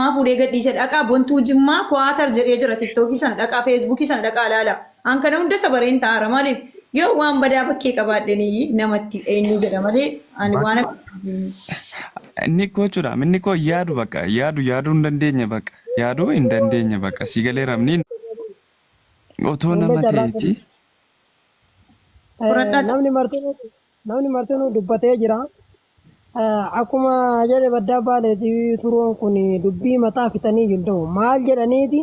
Maa fuudhee gadhiise dhaqaa bontuu jimmaa kuwaatar jedhee jira tiktookii sana dhaqaa feesbuukii sana dhaqaa ilaala. An kana hunda sabareen ta'aara maaliif yoo waan badaa bakkee qabaadheen namatti eenyu jedha malee ani waan akka Inni koo jechuudha. Inni koo yaadu baqa. Yaadu yaaduu hin dandeenye baqa. Yaaduu hin dandeenye baqa. Si galee rabni otoo Wallee nama carraa ta'eeti. keessa. Eh, Fudhadhaa namni martinuu namni martinuu dubbatee jira. Akkuma jedhe baddaa baaleeti turuun kun dubbii mataa fixanii hin ta'u. Maal jedhaniiti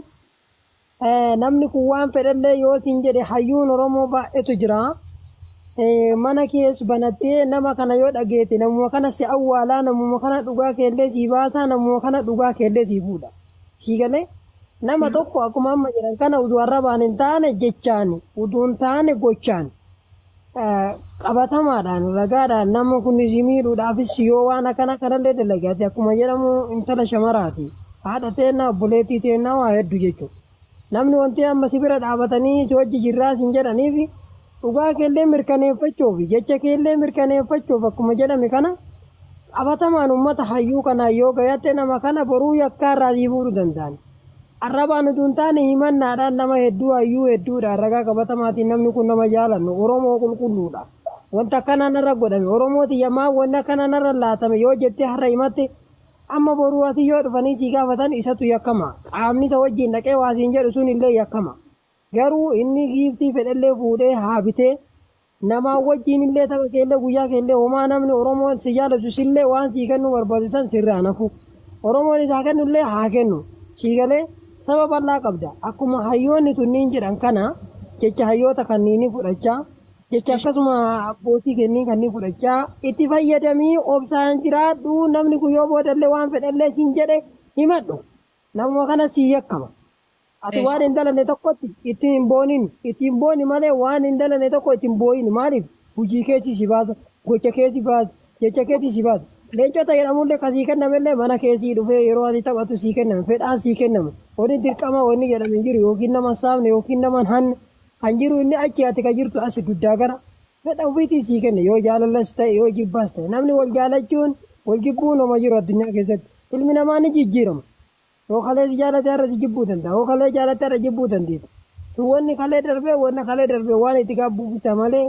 namni kun waan fedhallee yoo siin jedhe hayyuun Oromoo baay'eetu jira. Mana kees banattee nama kana yoo dhageete namuma kana si awwaalaa namuma kana dhugaa keellee sii baasaa namuma kana dhugaa keellee sii fuudha. Sii galee nama tokko akkuma amma jedhan kana utuu arrabaan hin taane jechaan utuu hin taane gochaan. qabatamaadhaan ragaadhaan nama kun si miidhuudhaafis yoo waan akkana kanallee dalage ati akkuma jedhamu intala shamaraati haadha teennaa obboleettii teennaa waa hedduu jechuudha. Namni wanti amma si bira dhaabatanii si wajji jirraa sin jedhaniif dhugaa keellee mirkaneeffachuuf jecha keellee mirkaneeffachuuf akkuma jedhame kana qabatamaan uummata hayyuu kanaa yoo gayatte nama kana boruu yakkaa irraa sii fuudhuu danda'an. Arrabaan utuu hin taane himannaadhaan nama hedduu, hayyuu hedduudhaan, ragaa qabatamaatiin namni kun nama jaalannu, Oromoo qulqulluudha. Wanti akkanaa narra godhame, Oromoo tiyya maaf wanni akkanaa narra laatame yoo jettee har'a himatte, amma boruu asi yoo dhufanii si gaafatan isatu yakkama. Qaamni isa wajjin dhaqee waa siin jedhu sun illee yakkama. Garuu inni giiftii fedhellee fuudhee haa bitee. Namaa wajjiin illee tapha kee illee guyyaa kee illee homaa namni Oromoon si jaalatu sillee waan sii kennuu barbaadu san sirraa hin hafu. Oromoon isaa kennu illee haa kennu. Sii galee saba bal'aa qabda. Akkuma hayyoonni tunniin jedhan kana jecha hayyoota kanniinii fudhachaa jecha akkasuma abbootii kenniin kannii fudhachaa itti fayyadamii obsaan jiraadhu namni kun yoo boodallee waan fedhallee siin jedhe himadhu. Namuma kana sii yakkama. Ati waan hin dalanne tokkotti itti hin boonin. Itti hin booni malee waan hin dalanne tokko itti hin boo'in. Maaliif? Hujii keetii si baasa, gocha keetii baasa, jecha keetii si baasa. Leencota jedhamullee ka sii kennamellee mana kee sii dhufee yeroo ati taphattu sii kennama. Fedhaan sii kennama. Wani dirqama wani jedhame hin jiru yookiin nama hin saamne yookiin nama hin hanne. Kan jiru inni achi ati ka jirtu asi duddaa gara. Fedha ufiitiin sii kenna. Yoo jaalallas ta'e yoo jibbaas ta'e. Namni wal jaalachuun wal jibbuun homa jiru addunyaa keessatti. Ilmi namaa ni jijjiirama. Yoo kalee si jaalate har'a si jibbuu danda. Yoo kalee jaalatte har'a jibbuu dandeeti. Sun wanni kalee darbe wanna kalee darbe waan itti gaabbu bicha malee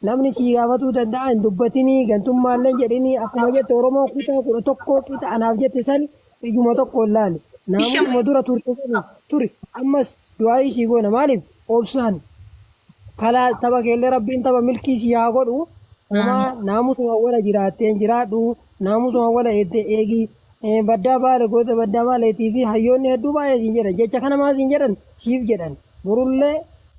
namni sii gaafatuu danda'a hin dubbatinii gantummaalleen jedhinii akkuma jette Oromoo kutaa kudha tokkoo qixa anaaf jette san ijuma tokkoon laali. Naamusuma dura turte saniin turi ammas du'aa'ii sii goona maaliif obsaan kalaas tapha keellee rabbiin tapha milkii sii haa godhu homaa naamusuma wala jiraatteen jiraadhu Naamusa hawwala jettee eegi. Baddaa baale goota baddaa baaleetii fi hayyoonni hedduu baay'ee siin jedhan. Jecha kana maal siin jedhan? Siif jedhan. Borullee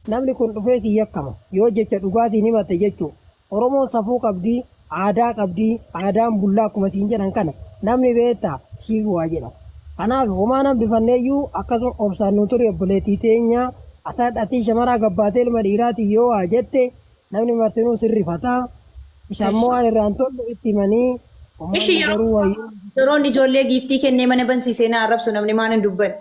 namni kun dhufee si yakkama. Yoo jecha dhugaatiin himatte jechuu. Oromoon safuu qabdi, aadaa qabdi, aadaan bulla akkuma siin jedhan kana. Namni beektaa? Siif waa jedha. Kanaaf homaa hin hambifanneeyyuu akkasuma obsaan nuu turi obboleettii teenya. Atii shamaraa gabbaatee ilma dhiiraatiin yoo waa jette Namni martinuu sin rifata. Isa ammoo waan irraa hin tolle itti himanii Ishi ummanni garuu yeroo wayyuu yeroon ijoollee giiftii kennee mana bansiisee na arrabsu namni maan hin dubbanne.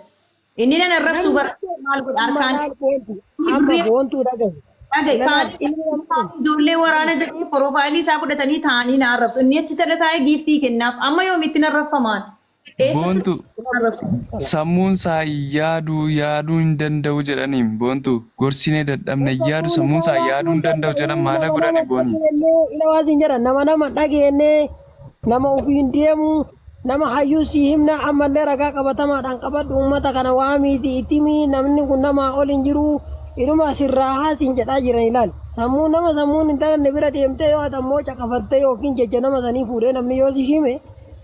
Inni nan arrabsuu bara maal godha amma harkaan laal boontu amma boontuu dhagahi. dhagaye Ilaalaaf kaanii inni namni kun ijoollee waraana jedhee porofaayilii isaa fudhatanii taa'anii na arrabsu. Inni achi tala taa'ee giiftii kennaaf amma yoomitti na arrabfamaan. Boontu sammuun saa hin yaadu yaaduu hin danda'u jedhaniim boontu gorsinee dadhabne hin yaadu sammuun saa yaaduu hin danda'u jedhan maala godhani booni. Ilawaasiin jedhan nama nama dhageenne nama ofiin deemu nama hayyuu si himna ammallee ragaa qabatamaadhaan qabadhu uummata kana waamiiti itimi namni kun namaa ol hin jiru inuma sirraa haasiin jedhaa jiran ilaali. Sammuu nama sammuun hin talanne bira deemtee yoo ati ammoo caqafattee yookiin jecha nama sanii fuudhee namni yoo si hime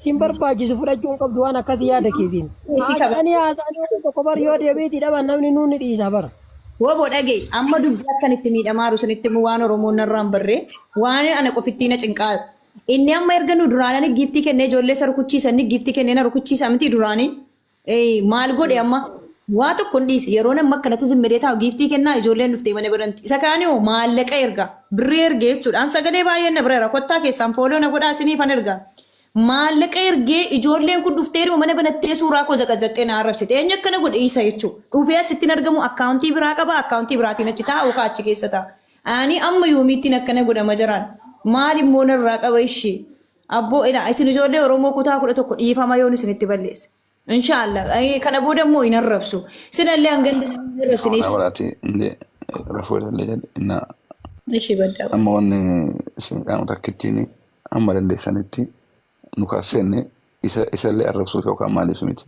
Sin barbaachisu fudhachuu hin qabdu waan akkasii yaada keetiin. Isii qaba. Haasa'anii haasa'anii waan tokko bar yoo deebiitii dhaban namni nuun ni dhiisa bara. Wabo dhaga'i amma dubbii akkan itti miidhamaaru sanitti immoo waan Oromoon narraa hin barree waan ana qofittii na cinqaa inni amma erga nu duraanani giiftii kennee ijoollee isa rukuchiisanni giiftii kennee na rukuchiisa miti duraanii Eeyi maal godhe amma waa tokko hin dhiise yeroon amma akkanatti zimmadee taa'u giiftii kennaa ijoolleen dhuftee mana biranti isa kaanii hoo maallaqa erga birrii ergee jechuudhaan sagalee baay'een na bireera kottaa keessaan fooloo na godhaa isinii fan erga maallaqa ergee ijoolleen kun dhufteeruma mana banattee suuraa koo zaqazaxxee na arrabsite eenyu akkana godhe isa jechuu dhufee achittiin argamu akkaawuntii biraa qaba akkaawuntii biraatiin achi taa'u kaa achi keessa ta'a ani amma yoomiittiin akkana godhama jiraan maal immoo narraa qaba ishii Abboo ilaa isin ijoollee oromoo kutaa kudha tokko dhiifama yoon isinitti balleesse. Inshaallah kana booda immoo hin arrabsu. Sinallee hanga hin arrabsine. Ana waraati illee rafuu illee jedhe innaa Ishii baddaa. amma wanni isin qaama takkittiin amma dandeessanitti nu kaasseenne isa isallee arrabsuuf yookaan maaliif miti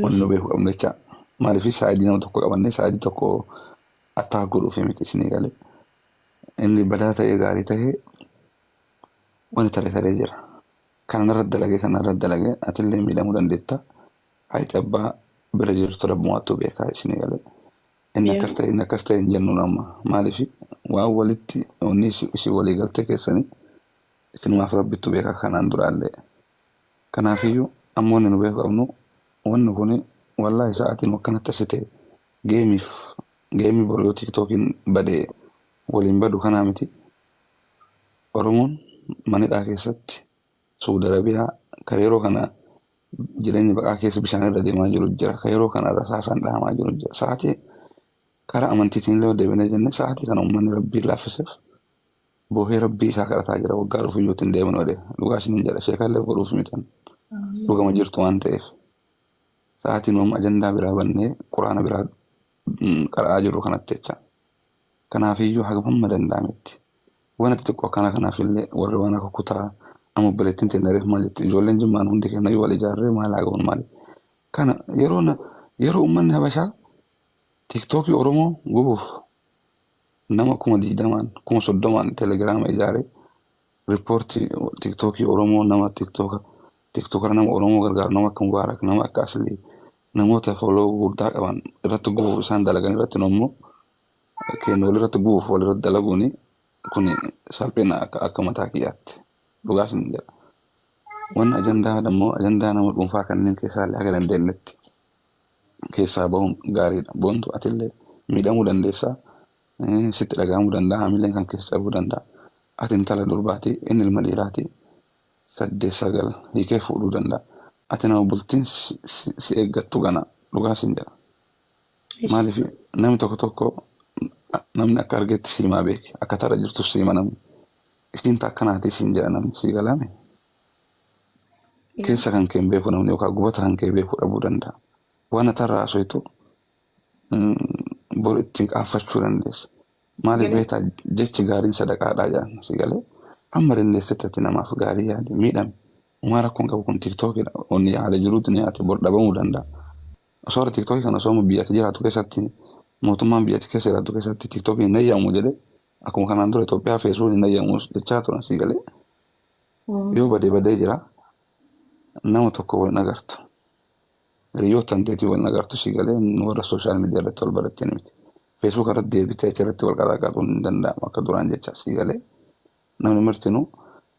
wanni nu beeku qabnu jecha maaliif saayidii nama tokko qabannee saayidii tokko attaak godhuuf miti isinii galee inni badaa ta'ee gaarii ta'ee wani tare taree jira kana narra dalagee kana narra dalagee atillee miidhamuu dandeetta hayti abbaa bira jirtu rabbumaattuu beekaa isinii galee inni Yaa. akkas ta'e inni akkas ta'e hin jennuun amma maaliif waan walitti onni isin walii galtee keessanii isinumaaf rabbittu beekaa kanaan duraallee kanaafiyyuu amma wanni nu beeku qabnu wanni kun wallaahi sa'aatiin akkanatti asi ta'e geemiif geemii boru yoo tiiktookiin badee waliin badu kanaa miti Oromoon mana hidhaa keessatti Suudi Arabiyaa kan yeroo kana jireenya baqaa keessa bishaan irra deemaa jiru jira. Kan yeroo kana rasaasaan dhahamaa jiru jira. Sa'aatii karaa amantiitiin illee deebinee jennee sa'aatii kana uummanni rabbii laaffiseef boohee rabbii isaa kadhataa jira. Waggaa dhufu iyyuu ittiin deebiin oole. Dhugaa isiniin jedha sheekallee godhuuf mitan. Dhugama jirtu waan ta'eef. Sa'aatiin uumama ajandaa biraa bannee quraana biraa qara'aa jirru kanatti jecha. Kanaafiyyuu hagam hamma danda'ametti wanti xixiqqoo akkana kanaafillee warri waan akka kutaa amma obboleettiin teenna reef maal jetti ijoolleen jimmaan hundi keennayyuu wal ijaarree maal haa goonu maali. Kana yeroo na- yeroo uummanni habashaa tiktookii oromoo gubuuf nama kuma digdamaan kuma soddomaan telegiraama ijaaree Report tiktoki oromoo nama tiktoka tiktokara nama oromoo gargaaru nama akka mubaarak nama akka aslii namoota follow guddaa qaban irratti gubuuf isaan dalagan irratti nommoo keenya wal irratti gubuuf wal irratti dalaguuni kuni salphina akka akka mataa kiyyaatti dhugaa sin jedha wanni ajandaa dammoo ajandaa nama dhuunfaa kanneen keessaa illee haga dandeenyetti keessaa bahuun gaariidha boontu atillee miidhamuu dandeessaa Sitti dhaga'amuu danda'a, hamileen kan keessa cabuu danda'a. Ati intala durbaati, inni ilma dhiiraati. Saddeet sagal hiikee fuudhuu danda'a. Ati nama bultiin si eeggattu gana dhugaa siin jedha. Maaliif namni tokko tokko namni akka argeetti siimaa beeki. Akka tarra jirtu siima namni. Isiin taakkanaatii siin jedha namni sii galaame. Keessa kan kee beeku namni yookaan gubata kan kee beeku dhabuu danda'a. Waan atarraa haasoftu bor ittiin qaanfachuu dandeessa. Maaliif Galee. beektaa jechi gaariin sadaqaadhaa jedhan si galee hamma dandeessetti ati namaaf gaarii yaadi miidhame. Umaa rakkoon qabu kun tiiktookidha. Onni haala jiruu duniyaati bor dhabamuu danda'a. Osoo warra tiiktookii kana osoo biyyatti jiraatu keessatti mootummaan biyyatti keessa jiraatu keessatti tiiktookii hin eeyyamu jedhee akkuma kanaan dura Itoophiyaa feesbuukiin hin eeyyamu jechaa turan si galee yoo badee badee jira nama tokko wal hin agartu. Hiriyoo tanteetii wal nagaaftu si galee warra social media irratti wal barattanii miti. Facebook irratti deebitee achirratti wal qalaaqaquun hin danda'amu akka duraan jecha si galee namni martinuu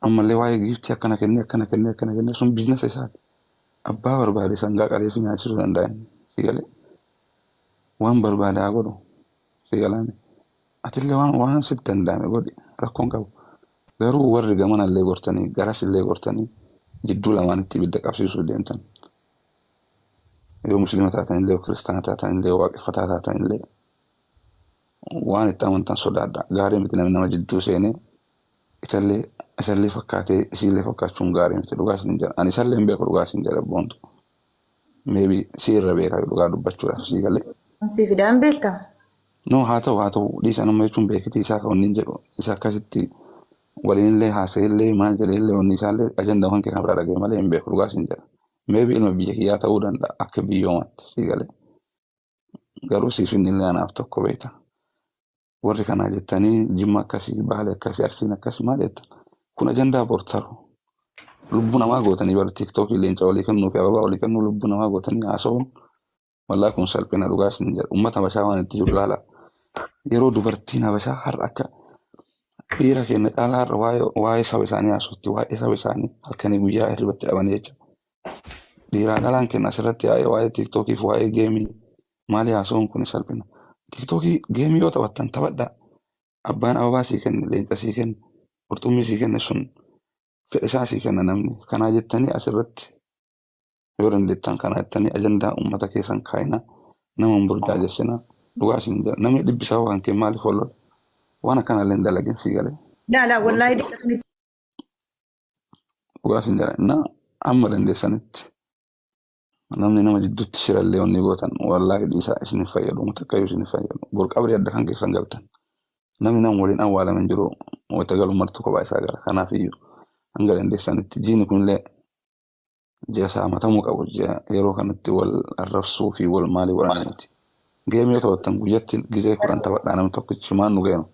ammallee waa'ee giiftii akkana kennee akkana kennee akkana kennee sun biiznasa isaati. Abbaa barbaade sangaa qalee si nyaachisuu danda'a inni si galee waan barbaade haa godhu si galaame. Atille waan waan sit danda'ame godhi rakkoon qabu. Garuu warri gamana illee gortanii garas illee gortanii jidduu lamaanitti ibidda qabsiisuuf deemtan yoo muslima taatan illee yoo kiristaana taatan illee waaqeffataa taatan illee waan itti amantan sodaadha. Gaarii miti namni nama jidduu seenee isallee isallee fakkaatee isiillee fakkaachuun gaarii miti dhugaa isin jedha. Ani isallee hin beeku dhugaa isin jedha boontu. Maybe si irra beeka dhugaa dubbachuudhaaf sii galee. Sii fidaan beekta. No haa ta'u haa ta'u dhiisa nama jechuun beekiti isaa kan wanni jedhu isa akkasitti waliin illee haasa'e illee maal jedhee illee wanni isaa illee ajanda kan kenna biraa dhaga'e malee hin beeku dhugaa siin jedha. Maybe ilma biyya kiyyaa ta'uu danda'a akka biyyoomaatti sii galee. Garuu siif inni illee anaaf tokko beekta. warri kanaa jettanii jimma akkasii baale akkasii arsiin akkas maal jettan kun ajandaa bortaru lubbuu namaa gootanii bara tiiktookii leenca walii kennuu fi ababaa walii kennuu lubbuu namaa gootanii haasa'uun wallaa kun salphina dhugaa isin jedha uummata habashaa waan itti jiru ilaala yeroo dubartiin habashaa har'a akka dhiira keenya caalaa har'a waa'ee waa'ee saba isaanii haasofti waa'ee saba isaanii halkanii guyyaa hirribatti dhaban jecha dhiiraan dhalaan keenya asirratti yaa'ee waa'ee tiiktookii fi waa'ee geemii Maali haasawuun kuni salphina. Tiktookii geemii yoo taphattan taphadhaa. Abbaan ababaa sii kenne, leenca sii kenne, qurxummii sii kenne sun fedha isaa sii kenna namni. Kanaa jettanii as irratti yoo dandeettan kanaa jettanii ajandaa ummata keessan kaayinaa nama hin burjaajessinaa. Dhugaa isin jedha. Namni dhibbi sababa kan kee maaliif wal lola? Waan akkanaa illee hin dalagin sii galee. Laa laa wallaahi Gooftaa diinota miti. dhugaa isin jedha. Innaa amma dandeessanitti Namni nama jiddutti shirallee wanni gootan wallaahi dhiisaa isin hin fayyadu uummata akkayyuu isin hin fayyadu bor qabrii adda kan keessan galtan namni nama waliin awwaalame hin jiru wayita galu martuu kophaa isaa gala kanaaf iyyuu hanga dandeessanitti jiini kunillee ji'a saamatamuu qabu ji'a yeroo kanatti wal arrabsuu fi wal maalii waraana miti geemii yoo taphattan guyyatti gizee kudhan taphadhaa namni tokkichi maan nu geema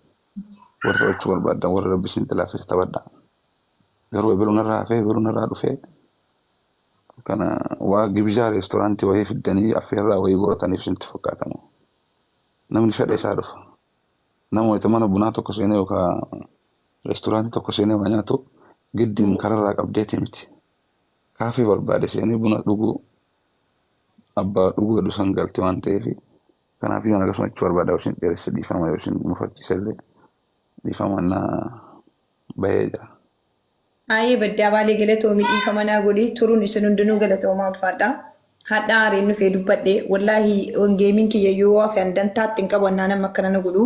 warri taphachuu barbaaddan warri rabbi isin tilaaffise taphadhaa garuu ebeluun irraa hafee ebeluun irraa dhufee Kana waa gibizaa reestoraantii wayii fiddanii affeerraa wayii gootaniif isinitti fakkaata moo? Namni fedha isaa dhufa. Nama wayita mana bunaa tokko seenee yookaan reestoraantii tokko seenee waa nyaatu giddiin kararraa qabdeetii miti. Kaafee barbaade seenee buna dhuguu abbaa dhuguu jedhu san galti waan ta'eef kanaaf yoon akkasuma jechuu barbaada yoo isin dheeresse dhiifama yoo isin mufachiise illee dhiifama na bahee jira. Aayee baddaa baalee galatoomi dhiifama naa godhi turun isin hundinuu galatoomaa ulfaadha hadhaa aareen dhufee dubbadhe wallaahi geemiin kiyya yoo hafe an dantaatti hin qabu annaan amma akkana na godhu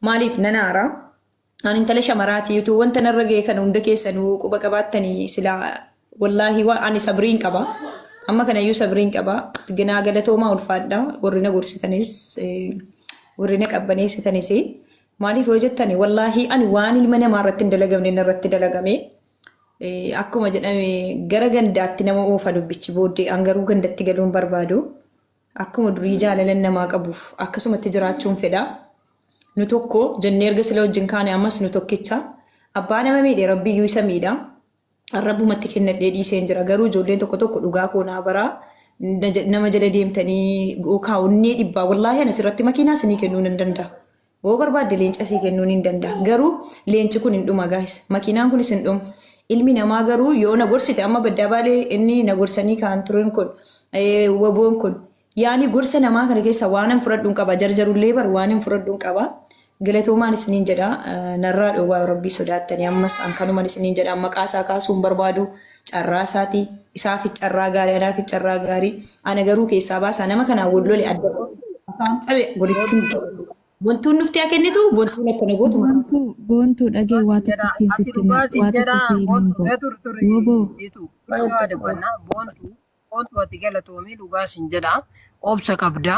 maaliif nan aara an intala shamaraati utuu wanta narra ga'e kana hunda keessanuu quba qabaattanii sila wallaahi waan ani sabriin qaba amma kanayyuu sabriin qaba ganaa galatoomaa ulfaadha warri na gorsitanis eh, warri na qabbaneessitanis Maaliif yoo jettani wallaahii ani waan ilma namaa irratti hin dalagamne inni irratti dalagame akkuma jedhame gara gandaatti nama oofa dubbichi booddee an garuu gandatti galuun barbaadu akkuma durii jaalalan namaa qabuuf akkasumatti jiraachuun fedha nu tokko jennee erga sila wajjin kaane ammas nu tokkicha abbaa nama miidhe rabbiyyuu isa miidha arrabumatti kennadhee dhiiseen jira garuu ijoolleen tokko tokko dhugaa koo naa baraa na ja- nama jala deemtanii yookaan onnee dhibbaa wallaahi ani asirratti makiinaa isinii kennuu nan danda'a. Yoo barbaadde leenca sii kennuu nan danda'a. Garuu leenci kun hin dhuma gaahis. Makiinaan kunis hin dhuma. Ilmi namaa garuu yoo na gorsite amma baddaa baalee inni na gorsanii kaan turan kun eh, waboon kun Yaani gorsa namaa kana keessa waanan fudhadhuun qaba jarjarullee bar waanin fudhadhuun qaba galatoomaan isiniin jedha narraa dhowwaa yoo rabbii sodaattanii ammas an kanuman isiniin jedha maqaa isaa kaasuun barbaadu carraa isaati isaaf carraa gaarii anaaf carraa gaarii ana garuu keessaa baasaa nama kanaa wal lole adda afaan cabe walittiin bontuun nuuf haa kennitu bontuun akkana gootu Boontu boontu dhagee waa tokko ittiin sitti hima waa tokko si himuun boo wooboo Koottu ati galatoomii dhugaa sin jedha obsa qabda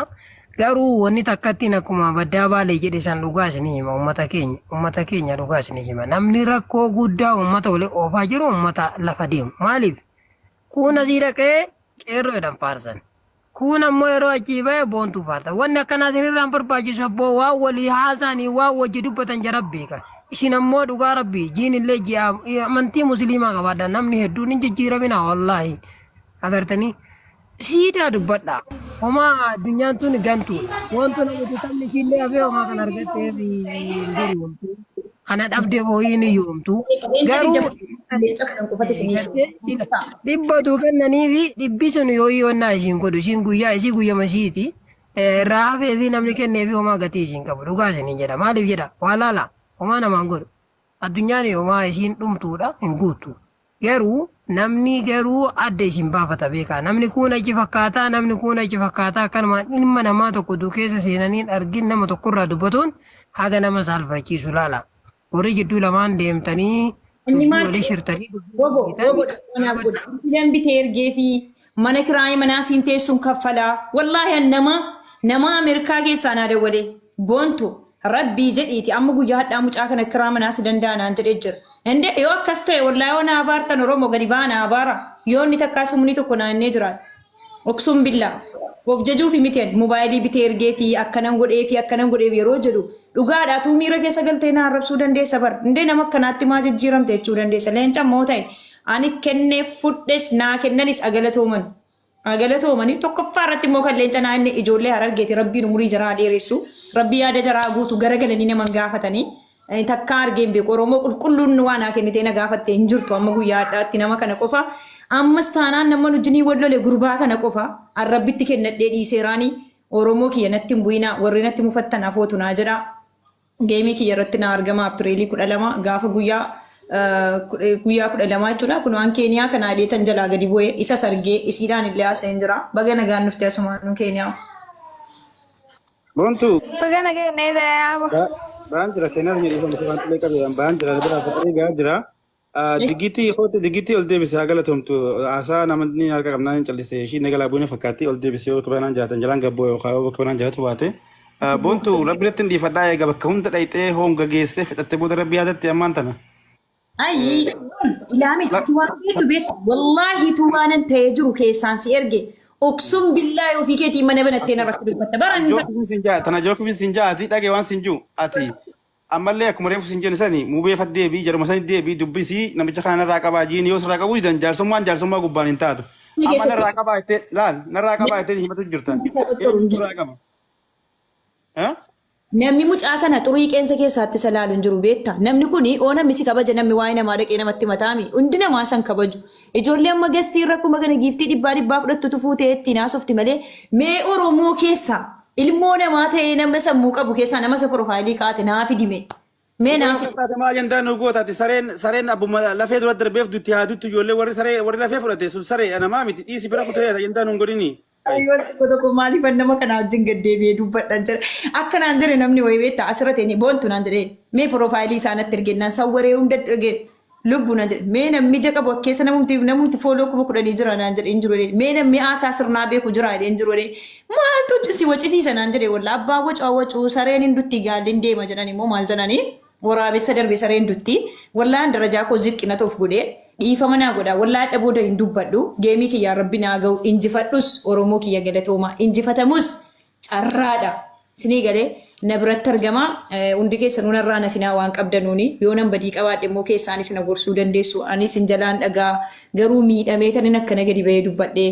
garuu wanni takkattiin akkuma baddaa baalee jedhe san dhugaa isinii hima ummata keenya ummata keenya dhugaa isinii hima namni rakkoo guddaa ummata wali oofaa jiru ummata lafa deemu maaliif kuun asii dhaqee qeerroo jedhan faarsan kuun ammoo yeroo achii ba'e boontuu faarsan wanni akkanaa isinirraan barbaachisu abboo waan walii haasaanii waan wajji dubbatan jara beeka isin ammoo dhugaa rabbii jiin illee ji'a amantii musliimaa qabaadha namni hedduun hin jijjiiraminaa wallaahi Agartanii? Siidaa dubbadhaa. Homaa addunyaan tun gantuudha. Wantu namatti taphni ishiillee hafee homaa kan argatteef hin gurgurtu. Kana dhabdee boo'ii ni yoomtu. Garuu dhibbatu kennanii fi dhibbi sun yoo yoonnaa isiin godhu isiin guyyaa isii guyyama isiiti. Irraa hafee fi namni kennee fi homaa gatii isiin qabu. Dhugaa isinii jedha. Maaliif jedha? Waa laala. Homaa namaan godhu. Addunyaan homaa isiin dhumtuudha hin guuttu. Garuu namni garuu adda isin baafata beekaa. Namni kuun achi fakkaataa, namni kuun achi fakkaataa akkanumaan ilma namaa tokko utuu keessa seenaniin argin nama tokkorraa dubbatuun haga nama saalfachiisu laala. Warri jidduu lamaan deemtanii Inni dubbii maal walii jedhe? shirtanii dubbii Wobo, walii wobo, hiitan, dhaqoonaa godhe. dhaabadhaa. Itti dambitee ergeefii. Mana kiraaya manaa siin teessun kaffalaa wallahi an nama nama Amerikaa keessaa naa dawwalee Boontu rabbii jedhiiti amma guyyaa hadhaa mucaa kana kiraa manaa si danda'a naan jedhe jira ende yoo akkas ta'e wallahi yoo naa abaartan oromo gadi baa naa abaara yoo inni takkaa sumuni tokko naa innee jiraate Uksum billaa of jajuufi miti ani mobaayilii bitee ergee fi akkanan godhee fi akkanan godhee yeroo jedhu dhugaadha atuu miira keessa galtee naa arrabsuu dandeessa bar indee nama akkanaatti maa jijjiiramte jechuu dandeessa leenca immoo ta'e Ani kenneef fudhes naa kennanis agalatooman. Agalatoomani tokkoffaa irratti immoo kan leenca naa inni ijoollee harargeeti rabbiin umurii jaraa dheeressu rabbii yaada jaraa guutu garagalanii naman gaafatanii eh, takkaa argeen beeku oromoo qulqulluun waa naa kennitee na gaafatte hin jirtu amma guyyaa hadhaatti nama kana qofa ammas taanaan nama nujinii wal lole gurbaa kana qofa an rabbitti kennadhee dhiiseeraanii oromoo kiyya natti hin bu'inaa warri natti mufattan afootu naa jedhaa Geemii kiyya irratti naa argama Apiriilii 12 gaafa guyyaa guyyaa 12 jechuudha. Kun waan Keeniyaa kanaa ilee tan jalaa gadi bu'e isas argee isiidhaan illee haasa'een jira. Baga nagaan dhufte asumaanuu Keeniyaa. Bontu Baga nagaan dhufte. baan jira keenyaaf jedhee kan mucaan xilee qabe baan jira bira fakkii gaa jira. Digitii hooti digitii ol deebise haa galatomtu haasaa namni harka qabnaa hin callise ishii inni galaa buune fakkaatti ol deebise yoo bakka banaan jaatan jalaan gabboo yookaan yoo bakka banaan jaatu baate. Boontu rabbi irratti hin dhiifadhaa eega bakka hunda dhayxee hoonga geessee fixattee booda rabbi yaadatti ammaan tana. Ayi ilaami ati waan beektu beektu wallaahi tu waanan ta'ee jiru keessaan si erge oksuun billaa ofii keetiin mana banattee narratti dubbatta bara hin Jookifin sin jaa tana jookifin sin jaa ati dhage waan sin juu ati Ammallee akkuma reefu sin jene sani mubee fat deebi'i jaruma sanit deebi'i dubbisi namicha kana narraa qabaa jiini yoo sirraa qabuu didan jaarsummaan jaarsummaa gubbaan hin taatu Inni amma keessatti narraa qabaa jettee laal narraa qabaa jettee himatu jirta namni isa dhottoru eenyu hin jiru. sirraa qaba Eh? Namni mucaa kana xurii qeensa keessaatti isa laalu hin jiru beekta. Namni kun oo namni si kabaja namni waa'ee namaa dhaqee namatti mataami. Hundi namaa san kabaju. Ijoollee amma gestii irra akkuma kana giiftii dhibbaa dhibbaa fudhattutu fuutee ittiin haasofti malee mee Oromoo keessaa ilmoo namaa ta'ee nama sammuu qabu keessaa nama isa piroofaayilii kaa'ate naa fidime. Mee naa fidime. Taate maa ajandaa nu goota ati sareen sareen abbuma lafee dura darbeef dutti haa duttu ijoollee warri saree warri lafee fudhate sun saree namaa miti dhiisi bira kutee ajandaa nu hin godhinii. Ayyoon tokko tokko maaliifan nama kana wajjin gad deebi'ee dubbadhan jedhe. Akka naan jedhe namni wayii beektaa asirratti inni boontu naan jedhe mee piroofaayilii isaa natti erge naan sawwaree hunda erge lubbu naan jedhe mee namni ija qabu akkeessa namumti namumti fooloo kuma kudhanii jira naan jedhe hin jiru jedhe mee namni haasaa sirnaa beeku jira jedhe hin jiru jedhe maaltu si wacisiisa naan jedhe walla abbaa wacaa wacuu sareen hin dutti gaalli hin deema jedhan immoo maal jedhanii. Woraabessa darbe sareen dutti. Wallahan darajaa koo ziqqi natu of godhe. Dhiifama naa godha. Wallahi adha booda hin dubbadhu. Geemii kiyyaa rabbi naa gahu. Injifadhus Oromoo kiyya galatooma. Injifatamus carraadha. Sinii gale na biratti argama. Hundi keessanuu narraa hin hafinaa waan qabdanuuni. Yoo nan badii qabaadhe immoo keessaanis na gorsuu dandeessu. Ani isin jalaan dhagaa garuu miidhamee tanin akkana gadi bahee dubbadhe.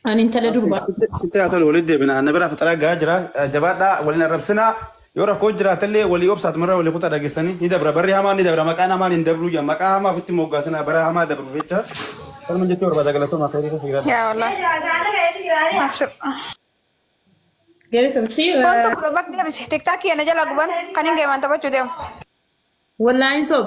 Ani intala Abdi, durbaa. sitti sitti haa tolu walitti deebina. Anna bira fixaraa gahaa jira. Eh, Jabaadhaa waliin arrabsinaa. Yoo rakkoo jiraatellee walii obsaat mirra walii kutaa dhageessanii ni dabra. Barri hamaan ni dabra. Maqaan hamaan hin dabruu jedha. Maqaa hamaa ofitti moggaasinaa bara hamaa dabruuf jecha. Kanuma jechuu barbaada galatoomaa kayrii keessa jiraadha. Yaa wallah. Abshir. Galatomti. Wantu bro bak dia bisa tiktok ya naja lagu ban. Kan yang gimana coba cuci. Wallaahin sob.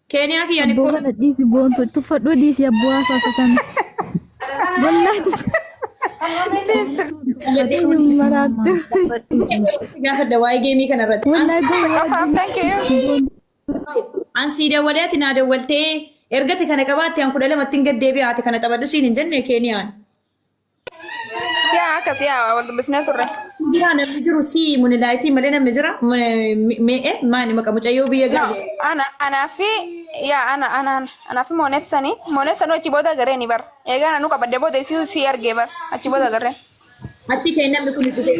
Keeniyaa kiyyan Abboo ikkoo kana dhiisi boontu tuffadhuu dhiisi abboo haasawasa kana. Wallaahi tuffadhuu maraattu. gaafadha waa'ee geemii kana irratti. Wallaahi Isa gowwaa qofaaf thank you. An sii dawwalee ati naa dawwaltee ergati kana qabaatte an kudha lama ittiin gad deebi'aate kana taphadhu siin hin jenne Keeniyaan. Yaa akkas yaa wal dubbisnee turre. Jira namni jiru si munilaayitii malee namni jira mee'e maani maqa mucayyoo biyya No, gaale. ana anaa fi yaa ana ana ana anaa fi moonet sanii moonet sanuu achi booda garee ni bar. Eegaa nanuu qabadde booda isii si argee bar achi booda garee. Achi kee namni kun itti ta'e.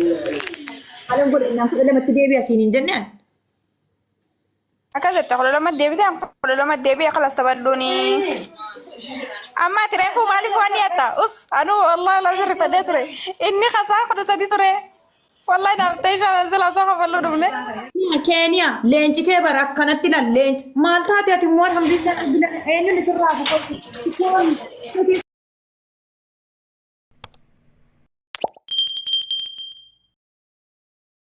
Halan godhe naan kudha lamatti deebi'a siin hin jennaan. Akkas jette kudha lama deebite amma kudha lama deebi'e kalas taphadhuuni. Amma ati reefuu maaliif waan dhiyatta? Us anuu wallahi laazin rifadhee ture. Inni kasaa kudha sadi ture. Wallahi naaf ta'e shaan sila osoo kafalluu dhumne. Keeniya leenci kee bara akkanatti lan leenci maal taate ati immoo alhamdulillah argina eenyuun isirraa buqqatu.